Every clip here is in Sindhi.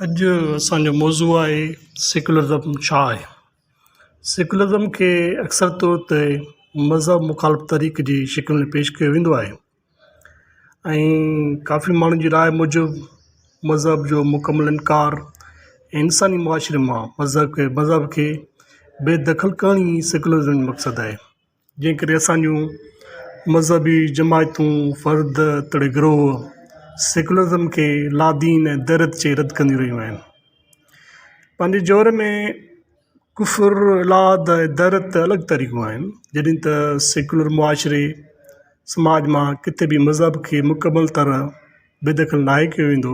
اڄ اسان جو موضوع آهي سيڪولرزم ڇا آهي؟ سيڪولرزم کي اڪثر طور تي مذهب مخالف طريقي جي شڪل ۾ پيش ڪيو ويندو آهي ۽ ڪافي ماڻهن جي راء موجب مذهب جو مڪمل انڪار انساني معاشري مان مذهب کي مذهب کي بي دخل ڪرڻ ئي سيڪولرزم جو مقصد آهي جنهن ڪري اسان جون مذهبي جماعتون فرد توڙي گروه سيڪولرزم کي لادين ۽ درد چئي رد ڪنديون رهيون آهن پنهنجي زور ۾ ڪفر لاد ۽ درد ته الڳ طريقو آهن جڏهن ته سيڪولر معاشري سماج مان ڪٿي به مذهب کي مڪمل طرح بيدخل ناهي ڪيو ويندو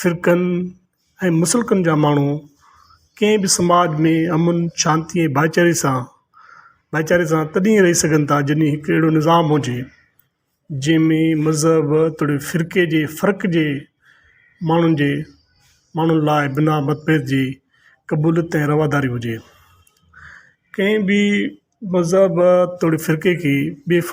فرقن ۽ مسلڪن جا ماڻهو ڪنهن به سماج ۾ امن شانتي ۽ ڀائيچاري سان ڀائيچاري سان تڏهن رهي سگهن ٿا جڏهن هڪ اهڙو نظام هجي جنهن ۾ مذهب توڙي فرقي جي فرق جي ماڻهن جي ماڻهن لاء بنا متڀيد جي قبوليت ۽ رواداري هجي ڪنهن به مذهب توڙي فرقي کي بيف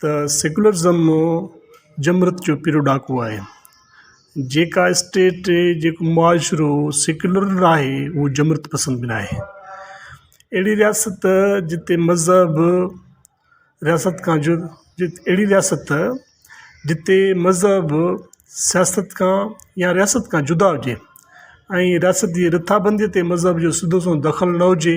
ته سيڪولرزم جمرت جو پھريون ڏھاڪو آھي جيڪا اسٽيٽ جيڪو معاشرو سيڪولر نھ آھي اھو جمرت پسند بھ نھ آھي اھڙي رياست جتي مذھب رياست کان جد اھڙي رياست جتي مذھب سياست کان يا رياست کان جدا ھجي ۽ رياست جي رٿابندي تي مذھب جو سڌو سنئون دخل نھ ھجي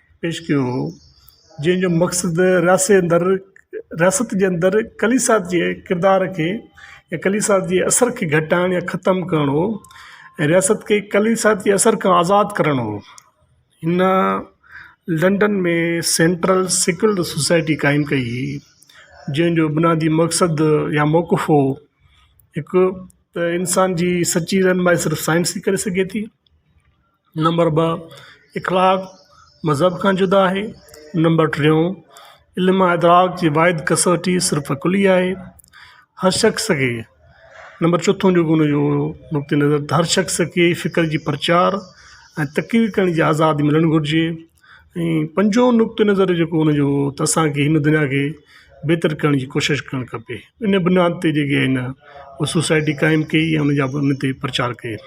پيش ڪيو هو جنهن جو مقصد رياست اندر رياست جي اندر ڪليسا جي ڪردار کي يا ڪليسا جي اثر کي گهٽائڻ يا ختم ڪرڻو هو ۽ رياست کي ڪليسا جي اثر کان آزاد ڪرڻو هو هن لنڊن ۾ سينٽرل سيڪل سوسائٽي قائم ڪئي هئي جنهن جو بنيادي مقصد يا موقف هو هڪ ته انسان جي سچي رهنمائي صرف سائنس ٿي ڪري سگهي ٿي نمبر ٻه اخلاق مذهب کان جدا آهي نمبر ٽيون علم ادراڪ جي واحد ڪسوٽي صرف عقل ئي آهي هر شخص کي نمبر چوٿون جيڪو هن جو نقطه نظر هر شخص کي فڪر جي پرچار ۽ تقرير ڪرڻ جي آزادي ملڻ گهرجي ۽ پنجो نقطه نظر جيڪو هن جو ته اسانکي هن دنيا کي بهتر ڪرڻ جي ڪوشش ڪرڻ کپي ان بنياد تي جيڪي آهن سوسائٽي قائم ڪئي ۽ ان جا ان تي پرچار ڪئي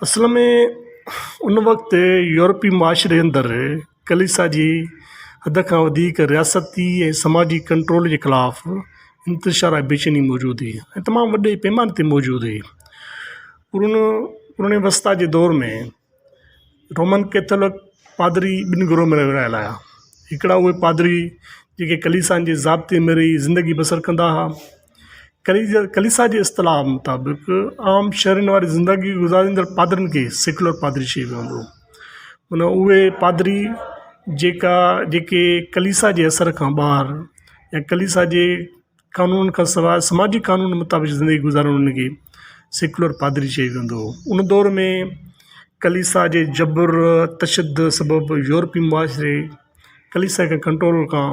اصل ۾ ان وقت يورپي معاشري اندر ڪليسا جي حد کان وڌيڪ رياستي ۽ سماجي ڪنٽرول جي خلاف انتشار ۽ بيچيني موجود هئي ۽ تمام وڏي پيماني تي موجود هئي قرون قرون وسطيٰ جي دور ۾ رومن ڪيٿولڪ پادري ٻن گروهن ۾ ورهايل آيا هڪڙا اهي پادري جيڪي ڪليسا جي ضابطي ۾ رهي زندگي بسر ڪندا هئا ڪليسا جي اصطلاح مطابق عام شھرين واري زندگي گذاريندڙ پادرين کي سيڪولر پادري چئي ويندو هو معنيٰ اهي پادري جيڪا جيڪي ڪليسا جي اثر کان ٻاهر يا ڪليسا جي قانون کان سواء سماجي قانون مطابق زندگي گذارڻ ان کي سيڪولر پادري چئي ويندو هو ان دور ۾ ڪليسا جي جبر تشدد سبب يورپي معاشري ڪليسا کي ڪنٽرول کان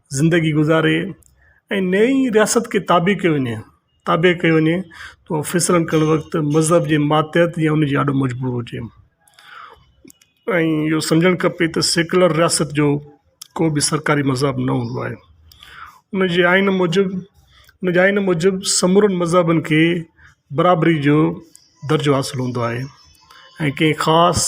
زندگي گذاري ۽ نئي رياست کي تابع ڪيو وڃي تابع ڪيو وڃي تو فيصلا ڪرڻ وقت مذهب جي ماتحت يا ان جي آڏو مجبور هجي ۽ اهو سمجهڻ کپي ته سيڪولر رياست جو ڪو به سرڪاري مذهب نه هوندو آهي ان جي آئين موجب ان جي آئين موجب سمورن مذهبن کي برابري جو درجو حاصل هوندو آهي ۽ ڪنهن خاص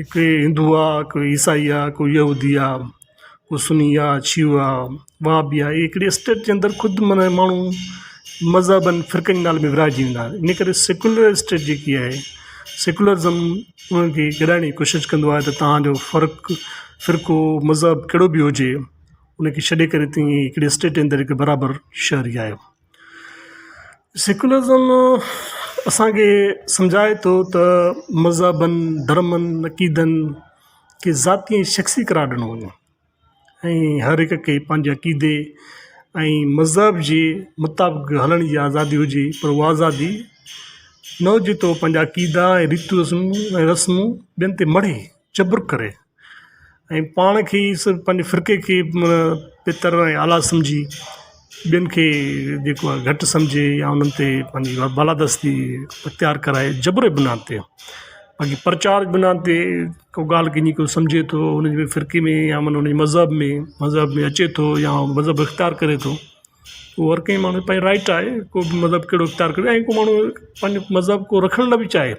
هڪ هندو آ هڪ عيسائي آ ڪو يهودي آ ڪو سني آ شيعو آ وهابي آ هڪڙي اسٽيٽ جي اندر خود معنيٰ ماڻهو مذهبن فرقن جي نالي ۾ ورهائجي ويندا آهن ان ڪري سيڪولر اسٽيٽ جيڪي آهي سيڪولرزم انهن کي ڪيرائڻ جي ڪوشش ڪندو آهي ته تهانجو فرق فرقو مذهب ڪهڙو بي هجي ان کي ڇڏي ڪري تون هڪڙي اسٽيٽ جي اندر هڪ برابر شهري آهيو سيڪولرزم اسانکي سمجهائي ٿو ته مذهبن ڌرمن عقيدن کي ذاتي ۽ شخصي قرار ڏنو وڃي ۽ هر هڪ کي پنهنجي عقيدي ۽ مذهب جي مطابق هلڻ جي آزادي هجي پر هو آزادي نه هجي ته پنهنجا عقيدا ۽ ريتو رسمون ۽ رسمون ٻين تي مڙهي جبر ڪري ۽ پاڻ کي ئي سر پنهنجي فرقي کي بھتر ۽ اعليٰ سمجھي ٻين کي جيڪو آهي گھٽ سمجھي يا انهن تي پنهنجي بالادستي اختيار ڪرائي جبر جي بنا تي پنهنجي پرچار بنا تي ڪو ڳالهه ڪنهنجي ڪو سمجھي ٿو انهن جي فرقي ۾ يا من انهن جي مذهب ۾ مذهب ۾ اچي ٿو يا مذهب اختيار ڪري ٿو هو هر ڪنهن ماڻهو پنهنجي رائٽ آهي ڪو به مذهب ڪهڙو اختيار ڪري ۽ ڪو ماڻهو پنهنجو مذهب ڪو رکڻ لاء به چاهي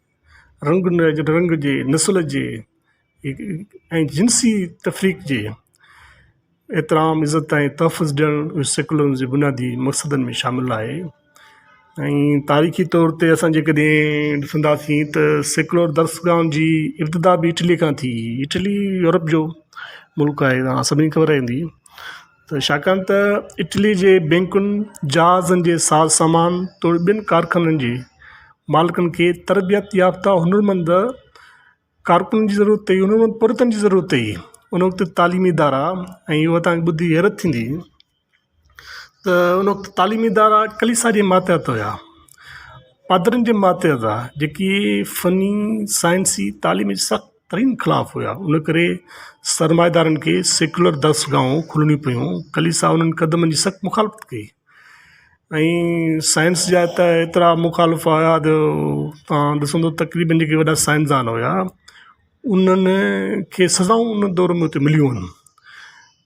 رنگ رنگ جي نسل جي ۽ جنسي تفريق جي احترام عزت ۽ تحفظ ڏيڻ سيڪولرزم جي بنيادي مقصدن ۾ شامل آهي ۽ تاريخي طور تي اسان جي ڪڏهن ڏسنداسين ته سيڪولر درسگاهن جي ابتدا به اٽلي کان ٿي اٽلي يورپ جو ملڪ آهي سڀني کي خبر هوندي ته ڇاڪاڻ ته اٽلي جي بينڪن جهازن جي ساز سامان توڙي ٻين ڪارخانن جي مالڪن کي تربيت يافته هنرمند ڪارڪن جي ضرورت هئي هنرمند پورهيتن جي ضرورت هئي ان وقت تعليمي ادارا ۽ هو تانئين ٻڌي حيرت ٿيندي ته ان وقت تعليمي ادارا ڪليسا جي ماتحت هيا پادرين جي ماتحت هئا جيڪي فني سائنسي تعليمي سخت ترين خلاف هيا ان ڪري سرمائيدارن کي سيڪيولر درسگاهون کلڻيون پيون ڪليسا انهن قدمن جي سخت مخالفت ڪئي ۽ سائنس جا ته ايترا مخالف هيا جو تان ڏسندو تقريبن جيڪي وڏا سائنسدان هيا انهن کي سزائون ان دور ۾ اتي مليون هن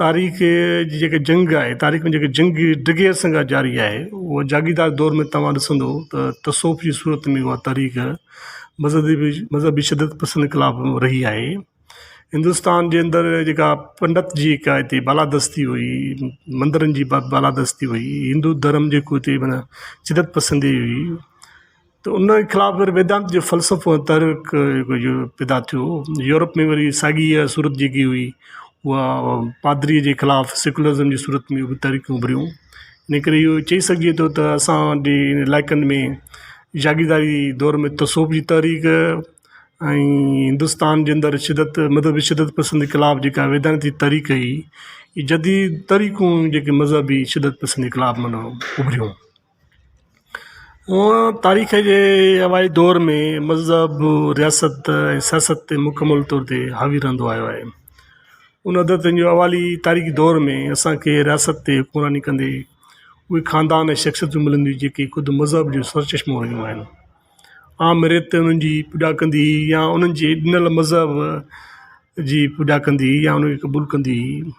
تاريخ جي جيڪي جنگ آهي تاريخ ۾ جيڪي جنگ ڊگهي عرصن کان جاري آهي هو جاگيردار دور ۾ تواں ڏسندو ته تصوف جي صورت ۾ اها تاريخ مذهبي بي مذهبي شدت پسند خلاف رهي آهي هندوستان جي اندر جيڪا پنڊت جي هڪ هتي بالادستي هئي مندرن جي ب بالادستي هئي هندو ڌرم جيڪو هتي منا شدت پسندي هئي ته ان جي خلاف وري ويدانت جو فلسفو ۽ ترڪ جيڪو يو پيدا ٿيو يورپ ۾ وري ساڳي اها صورت جيڪي هئي اها پادري جي خلاف سيڪولرزم جي صورت ۾ به تحريڪون اڀريون ان ڪري اهو چئي سگهجي ٿو ته اسان جي علائقن ۾ جاگيرداري دور ۾ تصوف جي تحريڪ ۽ هندوستان جي اندر شدت مذهبي شدت پسندي خلاف جيڪا ويدانت جي تحريڪ هئي جديد تحريڪون جيڪي مذهبي شدت پسندي خلاف معنيٰ اڀريون هونئن تاريخ جي اوائي دور ۾ مذهب رياست ۽ سياست تي مڪمل طور تي حاوي رهندو آيو آهي ان عدد جو اوالي تاريخي دور ۾ اسانکي رياست تي حڪمراني ڪندي اهي خاندان ۽ شخصيتون ملنديون جيڪي خود مذهب جو سر چشمو رهيون آهن عام ريت انهن جي پوڄا ڪندي هئي يا انهن جي ڏنل مذهب جي پوڄا ڪندي هئي يا انهن کي قبول ڪندي هئي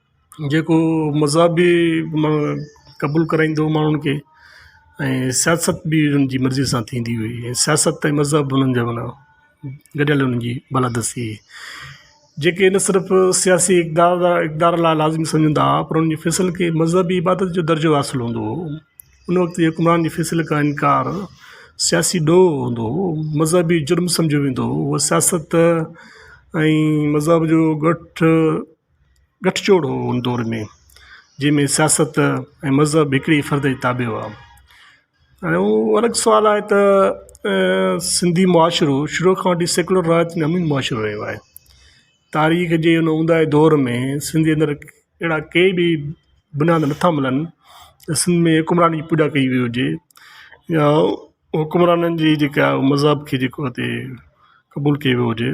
جيڪو مذهب بي قبول ڪرائيندو هو ماڻهن کي ۽ سياست بي هن جي مرضي سان ٿيندي هئي ۽ سياست ۽ مذهب هنن جا معنيٰ گڏيل هن جي بلادستي هئي جيڪي نه صرف سياسي اقدار لا اقدار لا لازمي سمجهندا هئا پر انهن جي فيصلن کي مذهبي عبادت جو درجو حاصل هوندو هو ان وقت جي حڪمران جي فيصلي کان انڪار سياسي ڏوهه هوندو هو مذهبي جرم سمجهيو ويندو هو سياست ۽ مذهب جو ڳٺ ڳٺجوڙ هو ان دور ۾ جنهن ۾ سياست ۽ مذهب هڪڙي فرد جي تابع هئا هاڻي هو الڳ سوال آهي ته سنڌي معاشرو شروع کان وٺي سيڪولر راج ۾ امين معاشرو رهيو آهي تاريخ جي ان اونداهي دور ۾ سنڌ جي اندر اهڙا ڪي به بنياد نٿا ملن ته سنڌ ۾ حڪمراني جي پوڄا ڪئي وئي هجي يا حڪمرانن جي جيڪا مذهب کي جيڪو هتي قبول ڪيو ويو هجي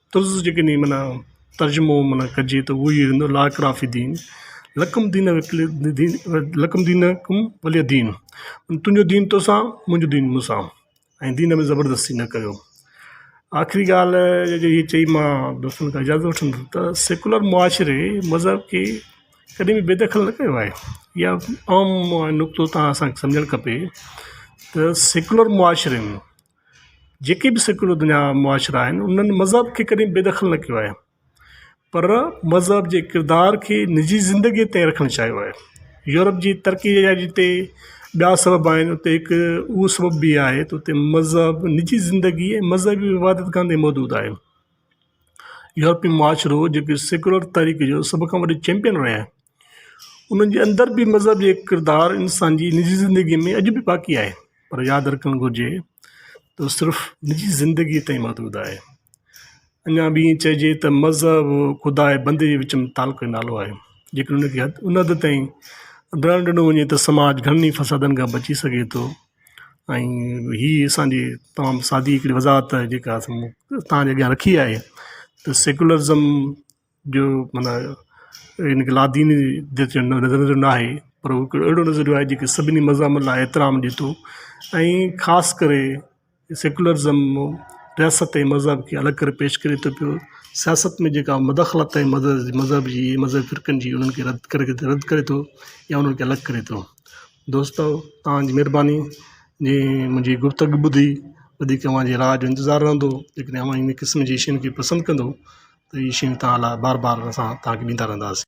طرز جيڪي ني معنيٰ ترجمو معنيٰ ڪجي ته اهو ئي هوندو لا اڪراهه في الدين لڪم دين لڪم دينڪم ولي دين تنهنجو دين توسان منهنجو دين مون سان ۽ دين ۾ زبردستي نه ڪريو آخري ڳالهه جيڪي هي چئي ماء دوستن کان اجازت وٺندس ته سيڪولر معاشري مذهب کي ڪڏهن به بي دخل نه ڪيو آهي يا عام نقطو تان اسانکي سمجهڻ کپي ته سيڪولر معاشري ۾ جيڪي به سيڪولر دنيا جا معاشرا آهن انهن مذهب کي ڪڏهن بي دخل نه ڪيو آهي پر مذهب جي ڪردار کي نجي زندگي تي رکڻ چاهيو آهي يورپ جي ترقي جا جتي ٻيا سبب آهن اتي هڪ اهو سبب به آهي ته اتي مذهب نجي زندگي ۽ مذهبي عبادت گاهه تي محدود آهي يورپي معاشرو جيڪو سيڪولر طريقي جو سڀ کان وڏو چيمپيئن رهيو آهي انهن جي اندر به مذهب جو ڪردار انسان جي نجي زندگي ۾ اڄ به باقي آهي پر ياد رکڻ گهرجي ته هو صرف نجي زندگي تائين محدود آهي اڃا به ائين چئجي ته مذهب خدا ۽ بندي جي وچ ۾ تعلق جو نالو آهي جيڪڏهن ان کي ان حد تائين ڊهڻ ڏنو وڃي ته سماج گهڻن ئي فسادن کان بچي سگهي ٿو ۽ هي اسانجي تمام سادي هڪڙي وضاحت جيڪا اسان تان جي اڳيان رکي آهي ته سيڪولرزم جو معنيٰ ان کي لاديني نظريو نه آهي پر هو هڪڙو اهڙو نظريو آهي جيڪو سڀني مذهبن لاء احترام ڏي ٿو ۽ خاص ڪري سيڪولرزم رياست ۽ مذهب کي الڳ ڪري پيش ڪري ٿو پيو سياست ۾ جيڪا مداخلت ۽ مذهب جي مذهبي فرقن جي انهن کي رد ڪري رد ڪري ٿو يا انهن کي الڳ ڪري ٿو دوستو توهان جي مهرباني جي منهنجي گفتگو ٻڌي وڌيڪ اوهان جي راء جو انتظار رهندو جيڪڏهن اوهان ان قسم جي شين کي پسند ڪندو ته اهي شيون توهان لاء بار بار اسان توهان کي ڏيندا رهنداسين